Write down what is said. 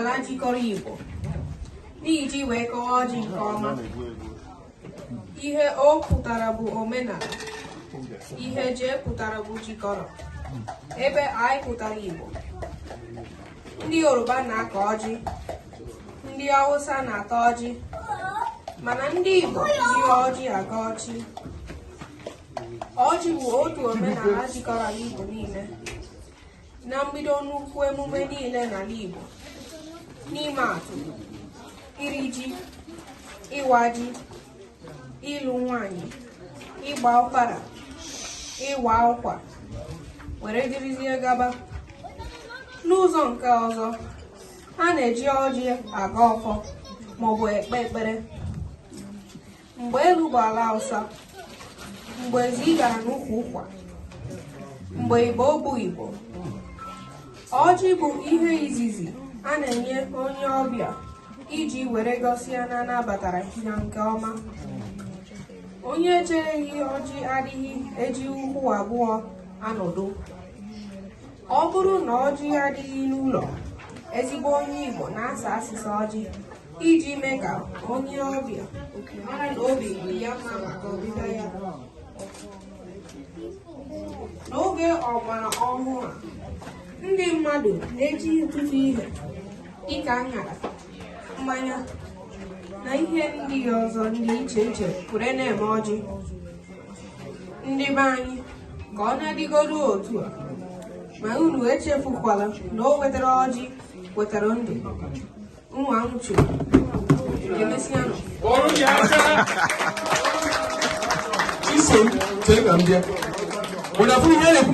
ala jikọrọ Igbo n'iji wee kọwaa ọjị nke ọma ihe O pụtara bụ omenala ihe J pụtara bụ jikọrọ ebe I pụtara Igbo ndị Yoruba na-akọ ọjị ndị Hausa na-ata ọjị mana ndị Igbo ji ọjị agọ ọjị ọjị bụ otu omenala jikọrọ Igbo niile na mbido nnukwu emume niile n'ala Igbo n'ịma atụ iri ji ịwa ji ịlụ nwanyị ịgba ọfala ịgba akwụkwọ were dịrịzie gaba n'ụzọ nke ọzọ a na-eji ọjị agọ ọfọ maọbụ ekpe ekpere mgbe elu bụ ala ọsa mgbe ezi gara n'ukwu ụkwa mgbe Igbo bụ Igbo ọjị bụ ihe izizi a na-enye onye ọbịa iji were gosi ya na a nabatara ya nke ọma onye e chereghị ọjị adịghị eji ụkwụ abụọ anọdụ ọ bụrụ na ọjị adịghị n'ụlọ ezigbo onye Igbo na-asa asịsa ọjị iji mee ka onye ọbịa mara na obi dị ya mma maka ọbịbịa ya n'oge ọgbara ọhụụ a ndị mmadụ na-eji ọtụtụ ihe dịka aṅara mmanya na ihe ndị ọzọ dị iche iche were na-eme ọjị ndị be anyị ka ọ na-adịgodu otu a ma unu echefukwala na o wetara ọjị wetara ndụ nwa m chụrụ emesịanụ Ọrụ ya aka. Iso m chee ka m bịa. Ụna fụ ihe na-ekwu